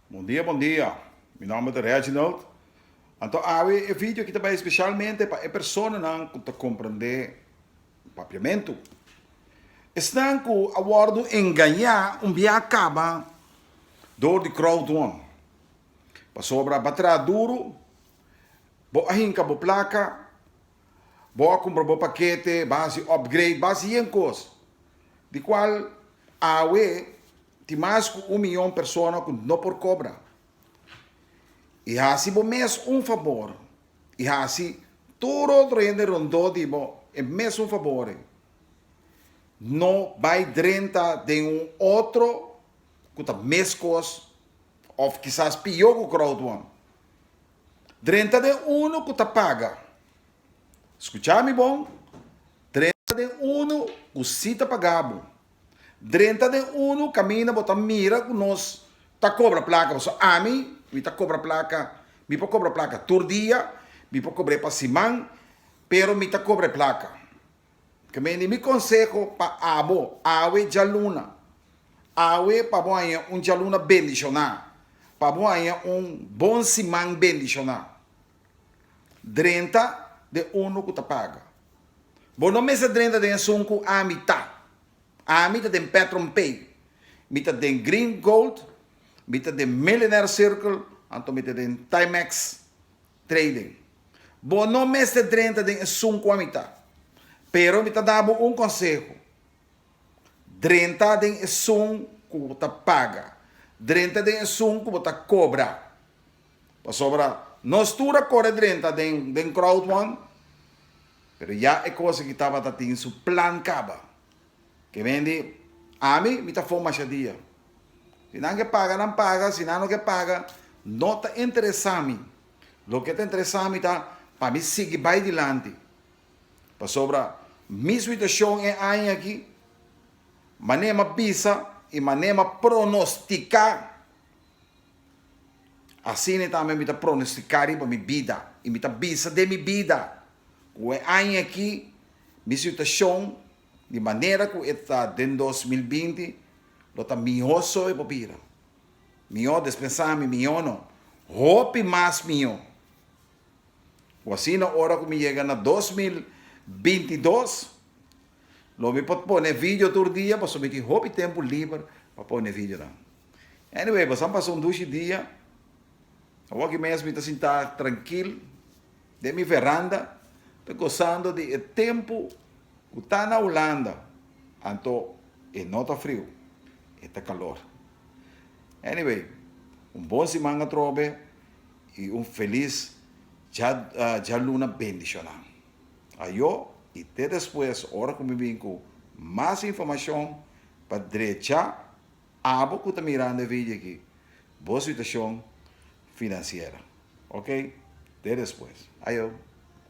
Bon dia bon dia mi nomber ta Reginald anto awe e video aki ta bai especialmente pa e personanan ku ta comprende Papiamentu esnan ku a wordu engaña un biaha a kaba door di crowd one pasobra a ba traha duru bo a hinka bo placa Bo a cumpra bo paquete, bo a haci upgrade, bo a haci yen cos. Di cual awe tin mas cu un miyon persona cu no por cobra. Y haci bo mes un fabor y haci tur otro hende rondó di bo e mesun fabor ei. No bay drenta den un otro cu ta mes cos of kisas piyó cu Grootwan. Drenta den unu ku ta paga. Skuchá mi bon, drenta den unu ku sí ta pagá bo. Drenta den unu kaminda bo ta mira ku nos ta kobra plaka, pasobra ami, mi ta kobra plaka, mi por kobra plaka tur dia, mi por kobr'é pa siman, pero mi ta kobra e plaka. Kmeni mi konseho pa abo, awe djaluna, awe pa bo haña un djaluna bendishoná, pa bo haña un bon siman bendishoná. Drenta den unu ku ta paga. Bo no mester drenta den esun ku ami ta. Ami ta den Petron Pay, mi ta den Green Gold, mi ta den Millionaire Circle, anto mi ta den Timex. Trading. Bo no mester drenta den esun ku ami ta. Pero mi ta da bo un konseho. Drenta den esun ku bo ta paga. Drenta den esun ku bo ta kobra. Pasobra nos tur a kore drenta den crowdfund, pero ya e kos aki tabata tin su plan kaba. Ke men di, Ami, mi ta fon masha dia. Si nan ke paga, nan paga, si nan no ke paga, no ta interesa mi. Loke ta interesa mi ta pa mi sigui bai dilanti. Pasobra mi situashon e aña aki, manera a bisa i manera a pronostiká, asina tambe mi ta pronostiká riba mi bida i mi ta bisa den mi bida. Ku e aña aki mi situashon di manera ku e ta den dos mil binti lo ta mihó so e por bira. Mihó des pensá mi, mihó no, hopi mas mihó. Ku asina ora ku mi yega na dos mil binti dos lo mi por pone video tur dia pasobra mi tin hopi tempu liber pa pone videonan. Anyway, pasan pasa un dushi dia, awor aki mes mi ta sintá trankil. Den mi veranda ta gozando di e tempu ku ta na Hulanda, anto e no ta friu, e ta kalor. Anyway, un bon siman atrobe i un felis djaluna bendishoná. Ayo i te despues ora ku mi bin ku mas informashon pa drechá Abo ku ta mirando e vidio aki, bo situashon finansiero. Ok. Te despues. Ayo.